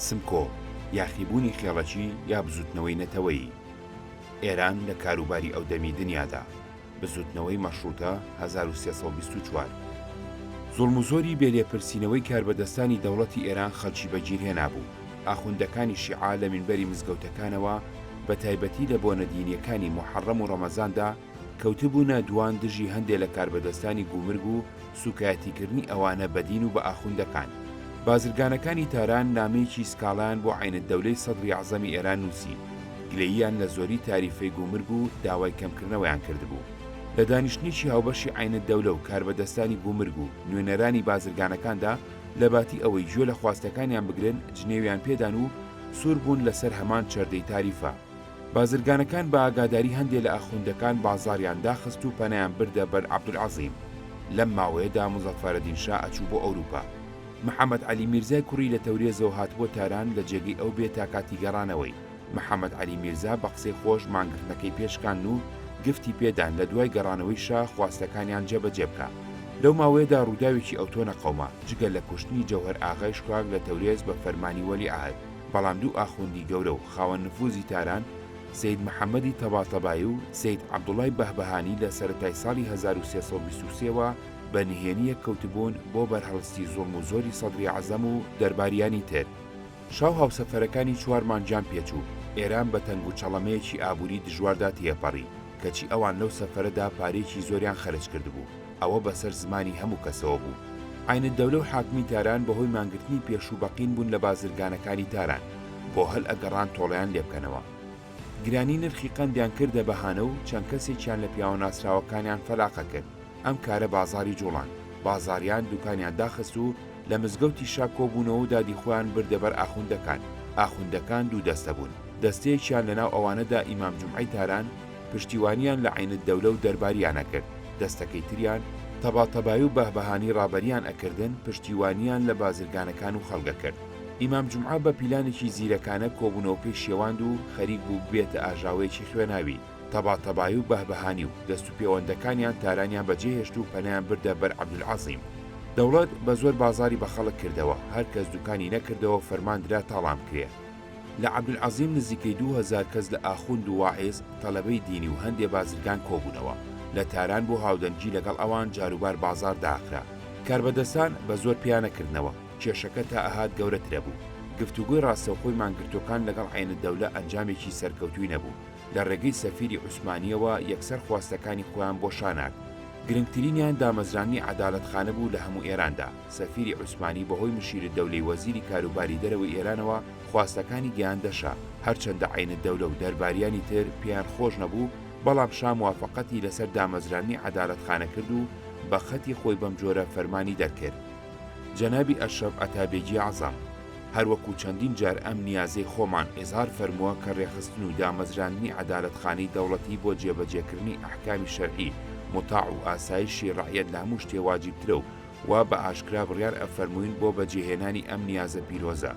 سمکۆ، یاخیبوونی خێڵەکی یا بزووتنەوەی نەتەوەیی، ئێران لە کاروباری ئەودەمی دنیادا، بزووتنەوەی مەشڕووتە، هەزار و سێ سەد و بیست و چوار. زوڵم و زۆری بێ لێپرسینەوەی کاربەدەستانی دەوڵەتی ئێران خەڵکی بەگیرهێنابوو، ئاخوندەکانی شیعە لە مینبەری مزگەوتەکانەوە بە تایبەتی لە بۆنە دینییەکانی موحەڕەم و ڕەمەزاندا، کەوتبوونە دووان دژی هەندێ لە کاربەدەستانی گومرگ و سووکایەتیکردنی ئەوانە بە دین و بە ئاخوندەکان. بازرگانەکانی تاران نامەیەکی سکاڵایان بۆ عەینەددەولەی سەدری ئەعزەمی ئێران نووسی، گلەییان لە زۆری تاریفەی گومرگ و داوای کەمکردنەوەیان کردبوو. لە دانیشتنێکی هاوبەشی عەینەددەولە و کاربەدەستانی گومرگ و نوێنەرانی بازرگانەکاندا لە باتی ئەوەی گوێ لە خواستەکانیان بگرن جنێویان پێدان و سوور بوون لە سەر هەمان چەردەی تاریفە. بازرگانەکان بە ئاگاداری هەندێ لە ئاخوندەکان بازاڕیان داخست و پەنایان بردە بەر عەبدولعەزیم. لەم ماوەیەدا موزەفەرەدین شا ئەچوو بۆ ئەوروپا. محەمەد عەلی میرزای کوڕی لە تەورێزەوە هاتبووە تاران لە جێگەی ئەو بێ تا کاتی گەڕانەوەی. محەمەد عەلی میرزا بە قسەی خۆش مانگرتنەکەی پێ شکاند و گفتی پێ دان لە دوای گەڕانەوەی شا خواستەکانیان جێ بە جێ بکا. لەو ماوەیەدا ڕووداوێکی ئەوتۆ نەقەوما، جگە لە کوشتنی جەوهەر ئاغای شکاک لە تەورێز بە فەرمانی وەلیعەهد. بەڵام دوو ئاخوندی گەورە و خاوەن نفوزی تاران، سەید محەمەدی تەباتەبایی و سەید عەبدوڵای بەهبەهانی لە سەرەتای ساڵی هەزار و سێ سەد و بیست و سێ وە بە نهێنی یەک کەوتبوون بۆ بەرهەڵستی زوڵم و زۆری سەدری عەزەم و دەرباریانی تر. شا و هاوسەفەرەکانی چوار مانگیان پێچوو، ئێران بە تەنگ و چەڵەمەیەکی ئابووری دژواردا تێپەڕی، کەچی ئەوان لەو سەفەرەدا پارەیەکی زۆریان خەرج کردبوو. ئەوە بەسەر زمانی هەموو کەسەوە بوو. عەینەدەولە و حاکمی تاران بە هۆی مانگرتنی پێشوو بەقین بوون لە بازرگانەکانی تاران بۆ هەل ئەگەڕان تۆڵەیان لێ بکەنەوە. گرانی نرخی قەندیان کردە بەهانە و چەند کەسێکیان لە پیاوە ناسراوەکانیان فەلاقە کرد، ئەم کارە بازاڕی جووڵاند. بازاریان دووکانیان داخست و لە مزگەوتی شا کۆبوونەوە و دادی خۆیان بردە بەر ئاخوندەکان. ئاخوندەکان دوو دەستە بوون، دەستەیەکیان لە ناو ئەوانەدا ئیمام جومعەی تاران، پشتیوانیان لە عین الدولە و دەرباریان ئەکرد، دەستەکەی تریان تەباتەبایی و بەهبەهانی ڕابەریان ئەکردن، پشتیوانیان لە بازرگانەکان و خەڵک ئەکرد. ئیمام جومعە بە پیلانێکی زیرەکانە کۆبوونەوەکەی شێواند و خەریک بوو ببێتە ئاژاوەیەکی خوێناوی، تەباتەبایی و بەهبەهانی و دەست و پێوەندەکانیان تارانیان بەجێ هێشت و پەنایان بردە بەر عەبدولعەزیم. دەوڵەت بە زۆر بازاڕی بە خەڵک کردەوە، هەر کەس دوکانی نەکردەوە فەرمان درا تاڵان بکرێ. لە عەبدولعەزیم نزیکەی دوو هەزار کەس لە ئاخوند و واعیز، تەلەبەی دینی و هەندێ بازرگان کۆبوونەوە. لە تاران بۆ هاودەنگی لەگەڵ ئەوان جاروبار بازاڕ داخرا. کاربەدەستان بە زۆر پیا نەکردنەوە. کێشەکە تا ئەهات گەورەترەبوو. گفتوگۆی ڕاستەوخۆی مانگرتووەکان لەگەڵ عەینودەولە ئەنجامێکی سەرکەوتووی نەبوو. لە ڕێگەی سەفیری عوسمانییەوە یەکسەر خواستەکانی خۆیان بۆ شا نارد. گرنگترینیان دامەزراندنی عەدالەتخانە بوو لە هەموو ئێراندا. سەفیری عوسمانی بەهۆی مشیرالدەولەی وەزیری کاروباری دەرەوەی ئێرانەوە خواستەکانی گەیاندە شا، هەرچەندە عەینالدەولە و دەرباریانی تر پێیان خۆش نەبوو، بەڵام شا موافەقەتی لەسەر دامەزراندنی عەدالەتخانە کرد و بە خەتی خۆی بەم جۆرە فەرمانی دەرکرد، جنابی اشرف اتابیگی اعظم، هەر وەکوو چەندین جار ئەم نیازەی خۆمان ئیزهار فەرمووە کە رێخستن و دامەزراندنی عەدالەتخانەی دەوڵەتی بۆ جێبەجێکردنی ئەحکامی شەرعی مطاع و ئاسایشی رەعیەت لە هەموو شتێ واجیبترە و وا بە ئاشکرا بڕیار ئەفەرمووین بۆ بەجێهێنانی ئەم نیازە پیرۆزە،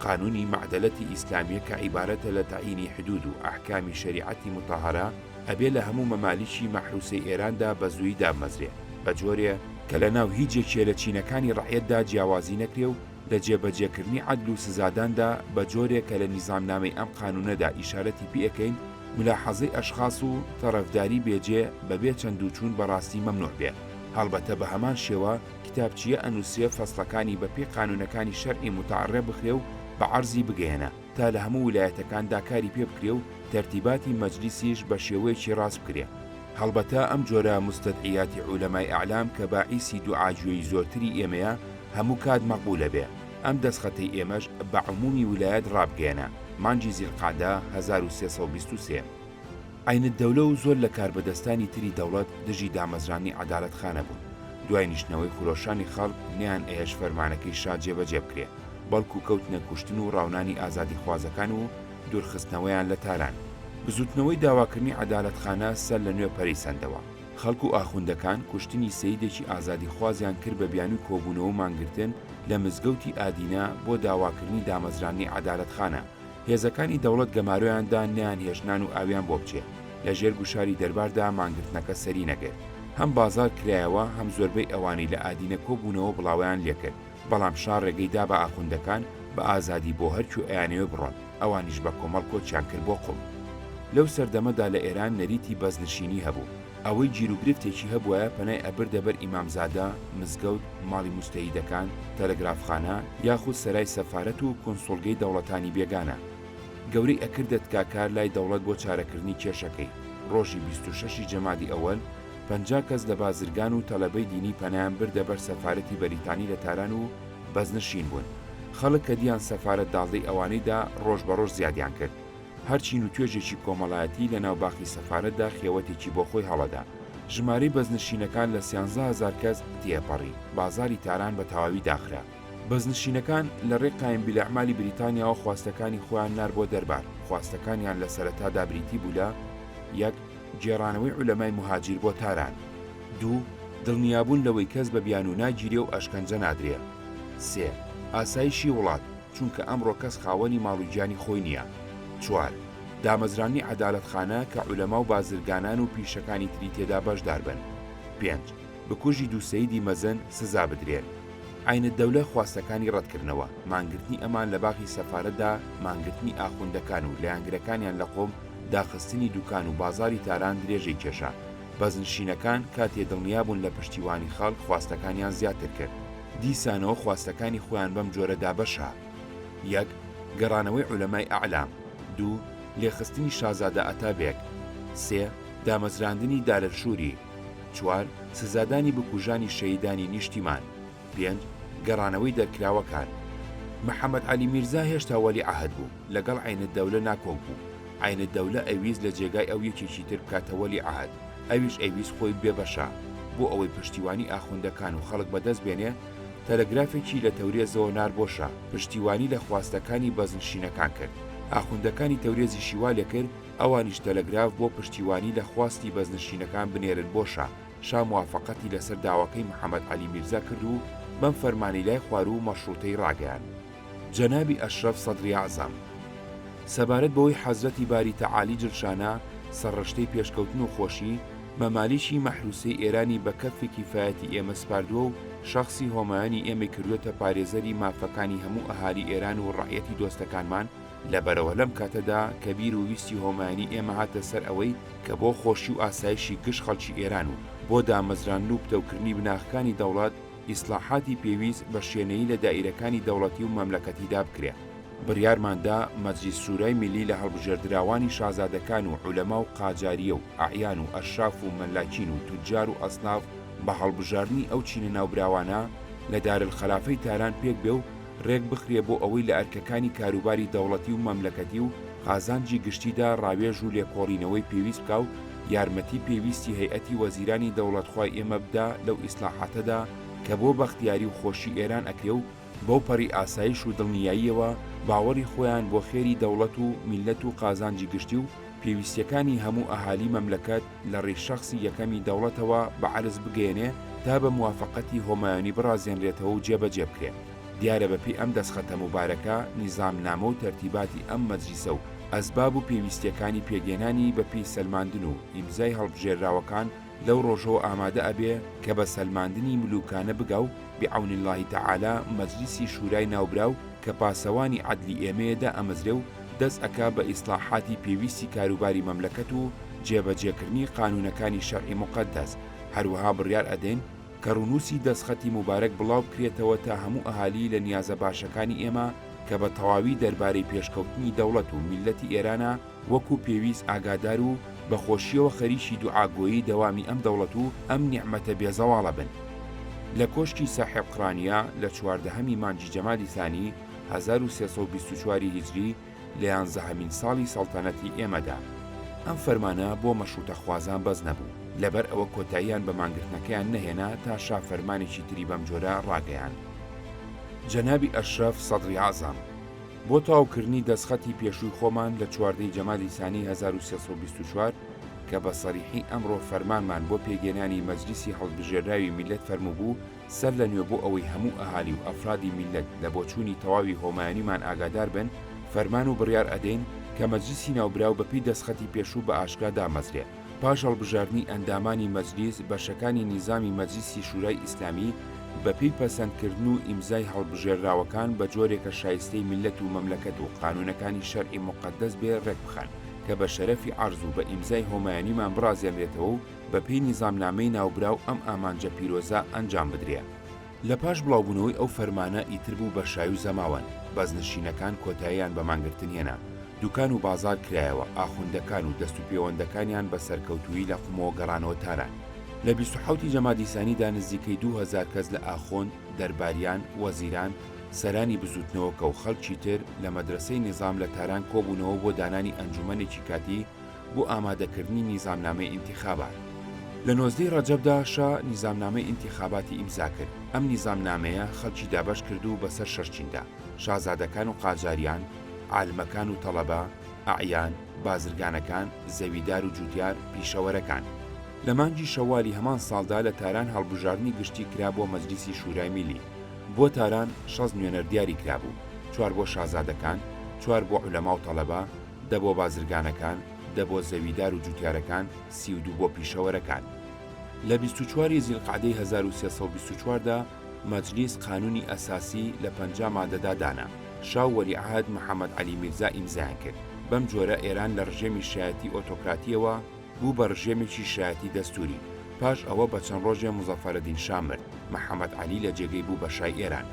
قانوونی مەعدەلەتی ئیسلامیە کە عیبارەتە لە تەعینی حدوود و ئەحکامی شەریعەتی موتەهەرە، ئەبێ لە هەموو مەمالیکی مەحرووسەی ئێراندا بە زوویی داممەزرێ، بە جۆرێ، کە لە ناو هیچ یەکێ لە چینەکانی ڕەعیەتدا جیاوازی نەکرێ و لە جێبەجێکردنی عەدل و سزاداندا، بە جۆرێ کە لە نیزامنامەی ئەم قانوونەدا ئیشارەتی پێ ئەکەین، ملاحەزەی ئەشخاس و تەڕەفداری بێجێ بە بێ چەندوچوون بە ڕاستی مەمنووع بێ. هەڵبەتە بە هەمان شێوە کتابچییە ئەنووسرێ فەسڵەکانی بە پێی قانوونەکانی شەرعی موتەعەڕێ بخرێ و بە عەرزی بگەیەنە تا لە هەموو ولایەتەکاندا کاری پێ بکرێ و تەرتیباتی مەجلیسیش بە شێوەیەکی ڕاست بکرێ. هەڵبەتە ئەم جۆرە موستەدعیاتی عولەمای ئەعلام کە باعیسی دوعا گوێی زۆرتری ئێمەیە هەموو کات مەقبوولە بێ. ئەم دەسخەتەی ئێمەش بە عموومی ولایەت ڕابگەیەنە، مانگی زیلقەعدە هەزار و سێ سەد و بیست و سێ. عەینەدەولە و زۆر لە کاربەدەستانی تری دەوڵەت دژی دامەزراندنی عەدالەت خانە بوون، دوای نیشتنەوەی خرۆشانی خەڵک نەیان ئەهێشت فەرمانەکەی شا جێبەجێ بکرێ، بەڵکوو کەوتنە کوشتن و ڕاونانی ئازادیخوازەکان و دوورخستنەوەیان لە تاران. بزووتنەوەی داواکردنی عەدالەت خانە سەر لە نوێ پەرەی سەندەوە. خەڵک و ئاخوندەکان کوشتنی سەیدێکی ئازادیخوازیان کرد بە بیانووی کۆبوونەوە و مانگرتن لە مزگەوتی ئادینە بۆ داواکردنی دامەزراندنی عەدالەت خانە هێزەکانی دەوڵەت گەمارۆیان دا نەیان هێشت نان و ئاویان بۆ بچێ، لە ژێر گوشاری دەرباردا مانگرتنەکە سەری نەگرت. هەم بازاڕ کرایەوە، هەم زۆربەی ئەوانەی لە ئادینە کۆ بوونەوە بڵاوەیان لێ کرد، بەڵام شا ڕێگەی دا بە ئاخوندەکان بە ئازادی بۆ هەر کوێ ئەیانەوێ بڕۆن، ئەوانیش بە کۆمەڵ کۆچیان کرد بۆ قوم. لەو سەردەمەدا لە ئێران نەریتی بەزنشینی هەبوو. ئەوەی گیروگرفتێکی هەبوایە پەنای ئەبردە بەر ئیمامزادە، مزگەوت، ماڵی موجتەهیدەکان، تەلەگرافخانە، یاخود سەرای سەفارەت و کونسوڵگەی دەوڵەتانی بێگانە. گەورەی ئەکردە تکاکار لای دەوڵەت بۆ چارەکردنی کێشەکەی. ڕۆژی بیست و شەش ی جەمادی ئەوەل، پەنجا کەس لە بازرگان و تەلەبەی دینی پەنایان بردە بەر سەفارەتی بەریتانی لە تاران و بەزنشین بوون. خەڵک کە دییان سەفارەت داڵدەی ئەوانەی دا، ڕۆژ بە ڕۆژ زیادیان کرد. هەر چین و توێژێکی کۆمەڵایەتی لە ناو باخی سەفارەتدا خێوەتێکی بۆ خۆی هەڵەدا. ژمارەی بەزنشینەکان لە سیانزە هەزار کەس تێپەڕی. بازاڕی تاران بە تەواوی داخرا. بەزنشینەکان لە ڕێی قایمبیلئەعمالی بریتانیاوە خواستەکانی خۆیان نارد بۆ دەربار. خواستەکانیان لە سەرەتادا بریتی بوو لە، یەک، گێڕانەوەی عولەمای موهاجیر بۆ تاران. دوو، دڵنیابوون لەوەی کەس بە بیانوو ناگیرێ و ئەشکەنجە نادرێ. سێ، ئاسایشی وڵات. چونکە ئەمڕۆ کەس خاوەنی ماڵ و گیانی خۆی نییە. چوار، دامەزراندنی عەدالەتخانە کە عولەما و بازرگانان و پیشەکانی تری تێدا بەشدار بن. پێنج، بکوژی دوو سەیدی مەزن سزا بدرێن. عەینەدەولە خواستەکانی ڕەتکردنەوە، مانگرتنی ئەمان لە باخی سەفارەتدا، مانگرتنی ئاخوندەکان و لایەنگرەکانیان لە قوم، داخستنی دوکان و بازاڕی تاران درێژەی کێشا. بەزنشینەکان کاتێ دڵنیابوون لە پشتیوانی خەڵک خواستەکانیان زیاتر کرد. دیسانەوە خواستەکانی خۆیان بەم جۆرە دابەشە، یەک گەڕانەوەی عولەمای ئەعلا، دوو لێخستنی شازادە ئەتابێک، سێ دامەزراندنی دارەلشوری، چوار سزادانی بکوژانی شەهیدانی نیشتیمان، پێنج گەڕانەوەی دەرکراوەکان. محەمەد عەلی میرزا هێشتا وەلیعەهد بوو، لەگەڵ عەینەددەولە ناکۆک بوو، عەینەددەولە ئەیویست لە جێگای ئەو یەکێکی تر بکاتە وەلیعەهد، ئەویش ئەیویست خۆی بێ بەشە، بۆ ئەوەی پشتیوانی ئاخوندەکان و خەڵک بەدەست بێنێ، تەلەگرافێکی لە تەورێزەوە نارد بۆ شا، پشتیوانی لە خواستەکانی بەزنشینەکان کرد. ئاخوندەکانی تەورێزیشی وا لێ کرد، ئەوانیش تەلەگراف بۆ پشتیوانی لە خواستی بەزنشینەکان بنێرن بۆ شا، شا موافەقەتی لەسەر داواکەی محەمەد عەلی میرزا کرد و بەم فەرمانەی لای خواروو مەشڕووتەی ڕاگەیاند. جەنابی ئەشرەف سەدری ئەعزەم سەبارەت بەوەی حەزرەتی باری تەعالی جلشانە سەرڕشتەی پێشکەوتن و خۆشی، مەمالیکی مەحروسەی ئێرانی بە کەفی کیفایەتی ئێمە سپاردووە و شەخسی هۆمایۆنی ئێمەی کردووەتە پارێزەری مافەکانی هەموو ئەهالی ئێران و ڕەعیەتی دۆستەکانمان، لەبەرئەوە لەم کاتەدا کە بیر و ویستی هۆمایۆنی ئێمە هاتە سەر ئەوەی کە بۆ خۆشی و ئاسایشی گشت خەڵکی ئێران و بۆ دامەزراندن و پتەوکردنی بناغەکانی دەوڵەت، ئیسلاحاتی پێویست بە شێنەیی لە دائیرەکانی دەوڵەتی و مەملەکەتیدا بکرێ. بڕیارمان دا مەجلیس شورای میللی لە هەڵبژێردراوانی شازادەکان و عولەما و قاجارییە و ئەعیان و ئەشراف و مەلاکین و توجار و ئەسناف بە هەڵبژاردنی ئەو چینە ناوبراوانە لە دارلخەلافەی تاران پێک بێ و رێک بخرێ بۆ ئەوەی لە ئەرکەکانی کاروباری دەوڵەتی و مەملەکەتی و قازانجی گشتیدا راوێژ و لێکۆڵینەوەی پێویست بکا و یارمەتی پێویستی هەیئەتی وەزیرانی دەوڵەتخوای ئێمە بدا لەو ئیسلاحاتەدا کە بۆ بەختیاری و خۆشی ئێران ئەکرێ و بەو پەڕی ئاسایش و دڵنیاییەوە باوەڕی خۆیان بۆ خێری دەوڵەت و میللەت و قازانجی گشتی و پێویستیەکانی هەموو ئەهالی مەملەکەت لە ڕیش شەخسی یەکەمی دەوڵەتەوە بە عەرز بگەیەنێ تا بە موافەقەتی هۆمایونی بڕازێنرێتەوە و جێبەجێ بکرێ. دیارە بە پێی ئەم دەسخەتە موبارەکە نیزامنامە و تەرتیباتی ئەم مەجلیسە و ئەسباب و پێویستییەکانی پێگەێنانی بە پێی سەلماندن و ئیمزای هەڵبژێرراوەکان لەو ڕۆژەوە ئامادە ئەبێ کە بە سەلماندنی ملووکانە بگا و بعون اللە تعالی مەجلیسی شورای ناوبراو کە پاسەوانی عەدلی ئێمەیە دائەمەزرێ و دەست ئەکا بە ئیسڵاحاتی پێویستی کاروباری مەملەکەت و جێبەجێکردنی قانونەکانی شەرعی موقەدەس هەروەها بڕیار ئەدەین کە ڕونوسی دەستخەتی موبارەک بڵاو بکرێتەوە تا هەموو ئەهالی لە نیازە باشەکانی ئێمە کە بە تەواوی دەربارەی پێشکەوتنی دەوڵەت و میللەتی ئێرانە وەکو پێویست ئاگادار و بە خۆشیەوە خەریکی دوعا گۆیی دەوامی ئەم دەوڵەت و ئەم نیعمەتە بێ زەواڵە بن. لە کۆشکی ساحێب قرانیە لە چواردەهەمی مانگی جەمادی ثانی هەزار و سێ سەد و بیست و چوار ی هیجری لە یانزەهەمین ساڵی سەڵتەنەتی ئێمەدا. ئەم فەرمانە بۆ مەشروتەخوازان بەس نەبوو، لەبەر ئەوە کۆتاییان بە مانگرتنەکەیان نەهێنا تا شا فەرمانێکی تری بەم جۆرە ڕاگەیاند. جەنابی ئەشرەف سەدری ئەعزەم. بۆ تەواوکردنی دەستخەتی پێشووی خۆمان لە چواردە ی جەمادی سانی هەزار و سێ سەد و بیست و چوار کە بە سەریحی ئەمڕۆ فەرمانمان بۆ پێکگێنانی مەجلیسی هەڵبژێرراوی میللەت فەرمووبوو سەر لە نوێ بۆ ئەوەی هەموو ئەهالی و ئەفرادی میللەت لە بۆچوونی تەواوی هۆمایەنیمان ئاگادار بن فەرمان و بڕیار ئەدەین کە مەجلیسی ناوبراو بە پێی دەستخەتی پێشوو بە ئاشکرا دامەزرێ. پاش هەڵبژاردنی ئەندامانی مەجلیس، بەشەکانی نیزامی مەجلیسی شورای ئیسلامی بە پێی پەسەندکردن و ئیمزای هەڵبژێرراوەکان بە جۆرێکە شایستەی میللەت و مەملەکەت و قانونەکانی شەرعی موقەدەس بێ ڕێک بخەن کە بە شەرەفی عەرز و بە ئیمزای هۆمایونیمان بڕازێنرێتەوە و بە پێی نیزامنامەی ناوبراو ئەم ئامانجە پیرۆزە ئەنجام بدرێ. لە پاش بڵاوبوونەوەی ئەو فەرمانە ئیتر بوو بە شای و زەماوەند، بەزنشینەکان کۆتاییان بە مانگرتن هێنا، دوکان و بازار کرایەوە، ئاخوندەکان و دەست و پێوەندەکانیان بە سەرکەوتوویی لە قومەوە گەڕانەوە تاران. لە بیست و حەوتی جەمادی سانیدا نزیکەی دوو هەزار کەس لە ئاخوند، دەرباریان، وەزیران، سەرانی بزووتنەوەکە و خەڵکی تر لە مەدرەسەی نیزام لە تاران کۆبوونەوە بۆ دانانی ئەنجوومەنێکی کاتی بۆ ئامادەکردنی نیزامنامەی ئینتیخابات. لە نۆزدەی ڕەجەبدا شا نیزامنامەی ئینتیخاباتی ئیمزاکرد، ئەم نیزامنامەیە خەڵکی دابەشکرد و بەسەر شەش چیندا، شازادەکان و قاجاریان، عالمەکان و تەڵەبە، ئەعیان، بازرگانەکان، زەویدار و جوتیار، پیشەوەرەکان. لە مانگی شەوالی هەمان ساڵدا لە تاران هەڵبژاردنی گشتی کرا بۆ مەجلیسی شورای میلی. بۆ تاران شەست نوێنەر دیاری کرابوو، چوار بۆ شازادەکان، چوار بۆ عولەما و تەڵەبە، دە بۆ بازرگانەکان، دە بۆ زەویدار و جوتیارەکان، سی و دوو بۆ پیشەوەرەکان. لە بیست و چوار ی زیلقعدەی هەزار و سێ سەد و بیست و چوار دا مەجلیس قانوونی ئەساسی لە پەنجا مادەدا دانا، شا و وەلیعەهد محەمەد عەلی میرزا ئیمزایان کرد. بەم جۆرە ئێران لە ڕژێمی شایەتی ئۆتۆکراتییەوە، بوو بە ڕژێمێکی شایەتی دەستووری. پاش ئەوە بە چەند ڕۆژێ موزەفەرەدین شا مرد، محەمەد عەلی لە جێگەی بوو بە شای ئێران.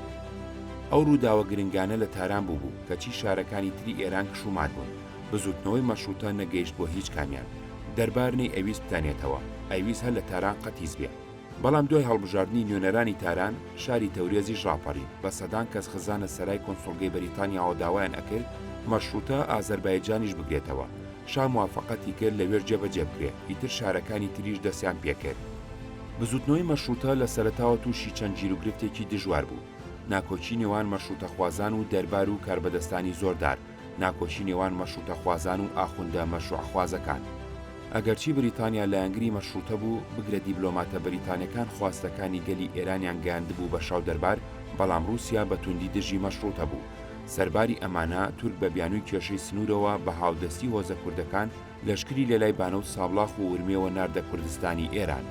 ئەو ڕووداوە گرنگانە لە تاران بووبوو، کەچی شارەکانی تری ئێران کش و مات بوون. بزووتنەوەی مەشرووتە نەگەیشت بۆ هیچ کامیان. دەربار نەیئەویست بتانێتەوە، ئەیویست هەر لە تاران قەتیس بێ. بەڵام دوای هەڵبژاردنی نوێنەرانی تاران شاری تەورێزیش ڕاپەڕی بە سەدان کەس خزانە سەرای کۆنسوڵگەی بەریتانیاوە داوایان ئەکرد مەشروتە ئازەربایجانیش بگرێتەوە شا موافەقەتی کرد لەوێش جێبەجێ بکرێت ئیتر شارەکانی تریش دەستیان پێکرد بزوتنەوەی مەشروتە لە سەرەتاوە تووشی چەند گیروگرفتێکی دژوار بوو ناکۆکی نێوان مەشروتەخوازان و دەربار و کاربەدەستانی زۆردار ناکۆکی نێوان مەشروتەخوازان و ئاخوندە مەشروعخوازەکان ئەگەرچی بریتانیا لایەنگری مەشروتە بوو، بگرە دیبلۆماتە بریتانەکان خواستەکانی گەلی ئێرانیان گەیاندبوو بە شا و دەربار، بەڵام روسیا بە توندی دژی مەشروتە بوو. سەرباری ئەمانە، تورک بە بیانووی کێشەی سنوورەوە بە هاودەستی هۆزە کوردەکان، لەشکری لەلای بانە و سابڵاخ و ورمێوە ناردە کوردستانی ئێران.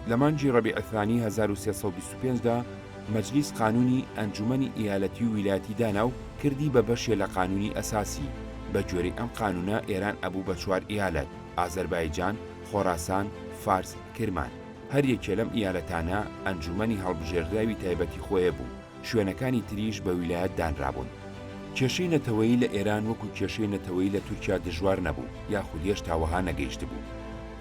لە مانگی ڕەبیع الثانی هەزار و سێ سەد و بیست و پێنج دا مەجلیس قانوونی ئەنجوومەنی ئیالەتی و ویلایەتی دانا و کردی بە بەشێ لە قانوونی ئەساسی، بە گوێرەی ئەم قانوونە ئێران ئەبوو بە چوار ئیالەت، ئازەربایجان، خۆراسان، فارس، کرمان. هەر یەکێ لەم ئیالەتانە ئەنجوومەنی هەڵبژێردراوی تایبەتی خۆێ بوو. شوێنەکانی تریش بە ویلایەت دانرابوون. کێشەی نەتەوەیی لە ئێران وەکو کێشەی نەتەوەیی لە تورکیا دژوار نەبوو یاخود هێشتا وەها نەگەیشتبوو.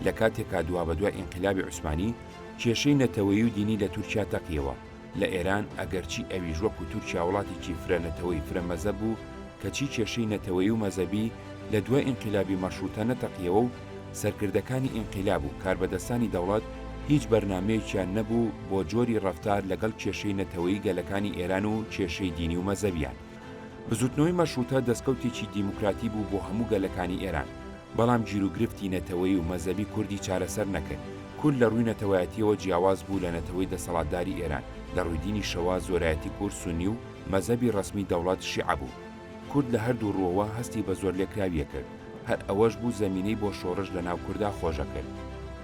لە کاتێکا دوابەدوای ئینقلابی عوسمانی کێشەی نەتەوەیی و دینی لە تورکیا تەقیەوە، لە ئێران ئەگەرچی ئەویش وەکو تورکیا وڵاتێکی فرە نەتەوەی فرە مەزەب بوو کەچی کێشەی نەتەوەیی و مەزەبی لە دوای ئینقلابی مەشروتە نەتەقیەوە و سەرکردەکانی ئینقیلاب و کاربەدەستانی دەوڵەت هیچ بەرنامەیەکیان نەبوو بۆ جۆری ڕەفتار لەگەڵ کێشەی نەتەوەیی گەلەکانی ئێران و کێشەی دینی و مەزەبیان. بزووتنەوەی مەشڕووتە دەسکەوتێکی دیموکراتی بوو بۆ هەموو گەلەکانی ئێران، بەڵام گیروگرفتی نەتەوەیی و مەزەبی کوردی چارەسەر نەکرد، کورد لە ڕووی نەتەوایەتییەوە جیاواز بوو لە نەتەوەی دەسەڵاتداری ئێران، لە ڕووی دینیشەوە زۆرایەتی کورد سوننی و مەزەبی ڕەسمی دەوڵەت شیعە بوو. کورد لە هەردوو ڕووەوە هەستی بە زۆرلێکراویی کرد، هەر ئەوەش بوو زەمینەی بۆ شۆڕش لە ناو کوردا خۆشە کرد.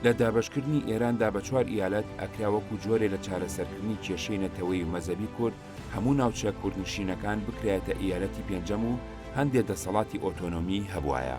لە دابەشکردنی ئێراندا بە چوار ئیالەت، ئەکرا وەکوو جۆرێ لە چارەسەرکردنی کێشەی نەتەوەیی و مەزەبی کورد، هەموو ناوچە کوردنشینەکان بکرایەتە ئیالەتی پێنجەم و هەندێ دەسەڵاتی ئۆتۆنۆمیی هەبوایە.